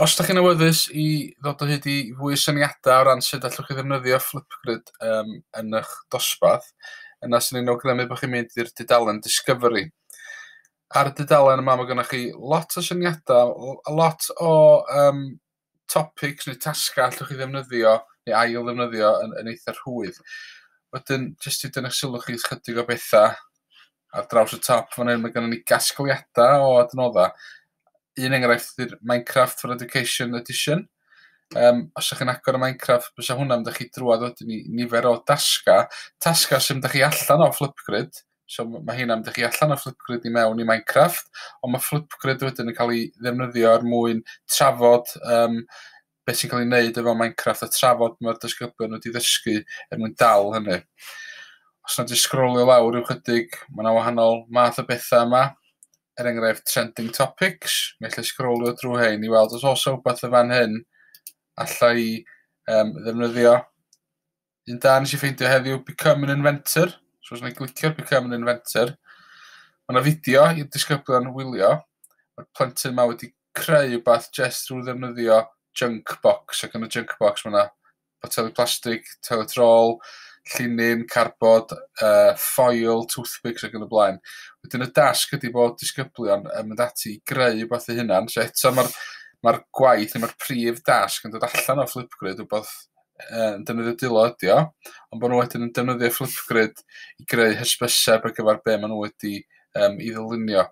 Os dach chi'n awyddus i ddod o hyd i fwy o syniadau o ran sut allwch chi ddefnyddio Flipgrid um, yn eich dosbarth, yna sy'n ni'n awgrymu bod chi'n mynd i'r dudalen Discovery. Ar y dudalen yma mae gennych chi lot o syniadau, a lot o um, topics neu tasgau allwch chi ddefnyddio neu ail ddefnyddio yn, yn eitha rhwydd. Wedyn, jyst i dynnu'ch sylw chi chydig o bethau ar draws y top fan hyn, mae gennym ni gasgliadau o adnoddau un enghraifft ydy'r Minecraft for Education Edition. Um, os ydych chi'n agor y Minecraft, bysa hwnna'n mynd chi drwad wedyn i nifer o dasga. Tasga sy'n mynd chi allan o Flipgrid. So mae hynna'n mynd chi allan o Flipgrid i mewn i Minecraft. Ond mae Flipgrid wedyn yn cael ei ddefnyddio er mwyn trafod um, be sy'n cael ei wneud efo Minecraft a trafod mae'r disgyblion wedi ddysgu er mwyn dal hynny. Os nad i sgrolio lawr rhyw chydig, mae yna wahanol math o bethau yma, er enghraifft trending topics, mae allai sgrolio drwy hein i weld os oes rhywbeth y fan hyn allai um, ddefnyddio. Un da nes i ffeindio heddiw, Become an Inventor. So os yna'n glicio Become an Inventor, mae yna fideo i'r disgyblion wylio. Mae'r plentyn yma wedi creu rhywbeth jyst drwy ddefnyddio junk box, ac yn y junk box mae yna boteli plastig, teletrol, llinyn, carbod, uh, ffoil, toothpicks ac yn y blaen. Wedyn y dasg ydy bod disgyblion yn mynd ati i greu rhywbeth eu hunan. So eto mae'r mae gwaith neu mae'r prif dasg yn dod allan o Flipgrid, rhywbeth yn defnyddio dwylo ydi o, ond bod nhw wedyn yn defnyddio Flipgrid i greu hysbyseb ar gyfer be maen nhw wedi um, i ddylunio.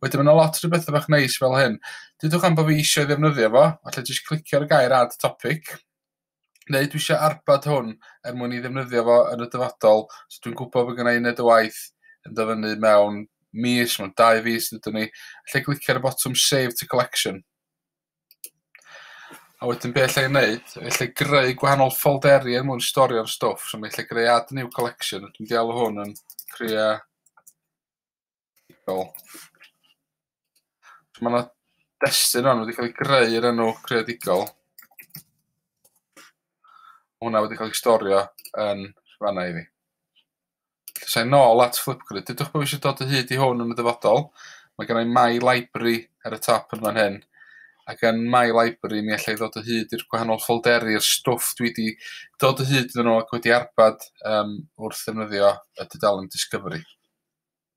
Wedyn mae yna lot o bethau bach neis fel hyn. Dydwch am bod fi eisiau ddefnyddio fo, allai jyst clicio ar y gair add topic, neu dwi eisiau arbad hwn er mwyn i ddefnyddio fo yn y dyfodol, so dwi'n gwybod bod gennau uned y waith yn dyfynnu mewn mis, mewn dau fis dydw ni, allai glicio ar y botwm save to collection. A wedyn be alla i wneud, alla i greu gwahanol ffolderi er mwyn storio'r stwff. So mi alla i greu add new collection, dwi'n deall o hwn yn crea... So mae yna destun hon wedi cael ei greu yr enw creadigol. Hwna wedi cael ei storio yn fanna i fi. Lle nôl at Flipgrid. Dudwch bod fi eisiau dod o hyd i hwn yn y dyfodol. Mae gen i My Library ar y top yn fan hyn. Ac yn My Library mi allai ddod o hyd i'r gwahanol ffolderi'r stwff dwi wedi dod o hyd yn nhw ac wedi arbad um, wrth ddefnyddio y dudalen Discovery.